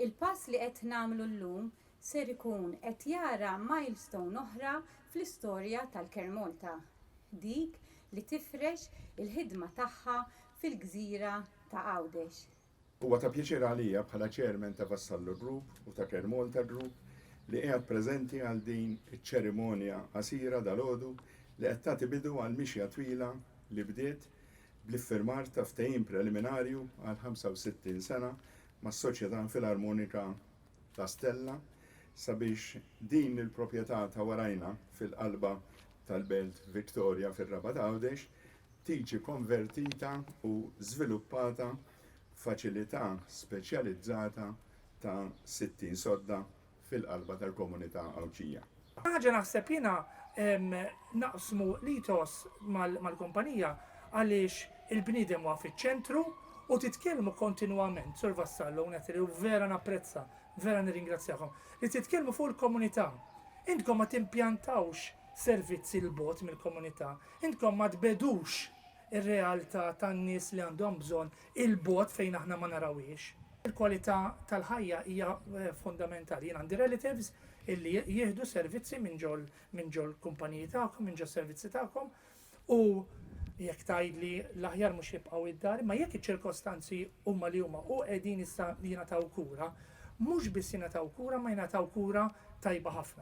Il-pass li qed nagħmlu llum ser ikun qed jara milestone oħra fl-istorja tal-Care Malta, dik li tifrex il-ħidma tagħha fil-gżira ta' Għawdex. Huwa ta' pjaċir għalija bħala Chairman ta' Vassallo Group u ta' Care Malta Group li qiegħed preżenti għal din iċ-ċerimonja qasira dalgħodu li qed tagħti bidu għal mixja twila li bdiet bl-iffirmar ta' ftehim preliminarju għal 65 sena mas-Soċjetà Filarmonika La Stella sabiex din il-propjetà ta' warajna fil-qalba tal-Belt Victoria fir-Rabat Għawdex tiġi konvertita u żviluppata f'faċilità speċjalizzata ta' 60 sodda fil-qalba tal-komunità Għawdxija. Ħaġa naħseb jiena naqsmu l-ethos mal-kumpanija għaliex il-bniedem huwa fiċ-ċentru u titkellmu kontinwament, Sur Vassallo u Natalie, u vera napprezza, vera nirringrazzjakom, li titkellmu fuq il-komunità. Intkom ma timpjantawx servizzi 'l bogħod mill-komunità, intkom ma tbegħdux ir-realtà tan-nies li għandhom bżonn 'il bogħod fejn aħna ma narawhiex. Il-kwalità tal-ħajja hija fondamentali. Jien għandi relatives illi jieħdu servizzi minn ġo minn ġo l-kumpaniji tagħkom, minn ġo s-servizzi tagħkom u jekk tgħidli l-aħjar mhux jibqgħu id-dar, imma jekk iċ-ċirkostanzi huma li huma u qegħdin issa jingħataw kura, mhux biss jingħataw kura imma jingħataw kura tajba ħafna.